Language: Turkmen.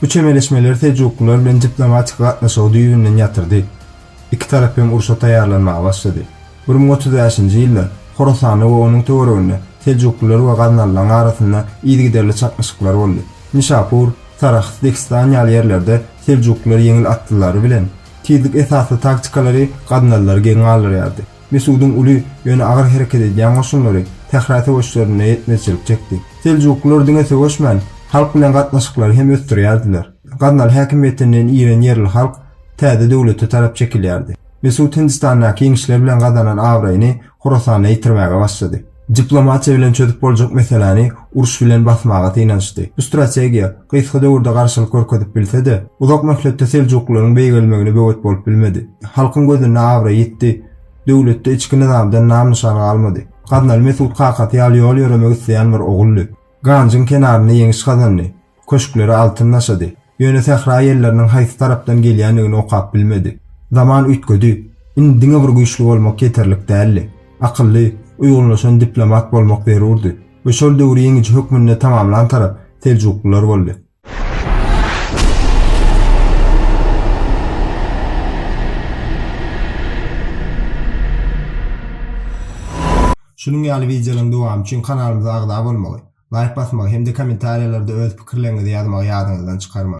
Bu çemeleşmeleri seljuklylar bilen diplomatik gatnaşygy düýbünden ýatyrdy. Iki tarap hem urşa taýýarlanmaga başlady. Bir müň otuz bäşinji ýylda Horasanda we onuň töwereginde seljuklylar we gaznalylaryň arasynda yzygiderli çaknyşyklar boldy. Nişapur, Sarahs, Dehistan ýaly ýerlerde seljuklylar ýeňil atlylary bilen, tizlik esasly taktikalary gaznalylary geň galdyrýardy. Mesudyň uly, ýöne agyr hereket edýän goşunlary Sähra söweşlerinde ýetmezçilik çekdi. Seljuklylar diňe söweşmän, halk bilen gatnaşyklary hem ösdürýärdiler. Gaznaly häkimiýetinden iren ýerli halk täze döwlete tarap çekilýärdi. Mesut Hindistandaky ýeňişler bilen gazanan abraýyny Horasanda ýitirmäge başlady. Diplomatiýa bilen çözüp boljak meseläni uruş bilen basmaga synanyşdy. Bu strategiýa, gysga döwürde garşylyk görkezip bilse-de, uzak möhletde seljuklylaryň beýgelmegine böwet bolup bilmedi. Halkyň gözünde abraý ýitdi, döwletde içki nyzamdan nam-nyşan galmady. Gaznaly Mesut kakasy ýaly ýol ýöremek isleýän bir oguldy. Ganjyň kenarynda ýeňiş gazandy. Köşkleri altyn daşady. Ýöne sähra ýelleriniň haýsy tarapdan gelýändigini okap bilmedi. Zaman üýtgedi. Indi diňe bir güýçli bolmak ýeterlik däldi. Akylly, uýgunlaşan diplomat bolmak zerurdy. We şol döwri ýeňiji hökmünde tamamlan tarap seljuklylar boldy. Şunuň ýaly wideolaryň dowamy üçin kanalymyza agza bolmagy. Laýk basmagy hem-de kommentariýalarda öz pikirleriňizi ýazmagy ýadyňyzdan çykarmaň!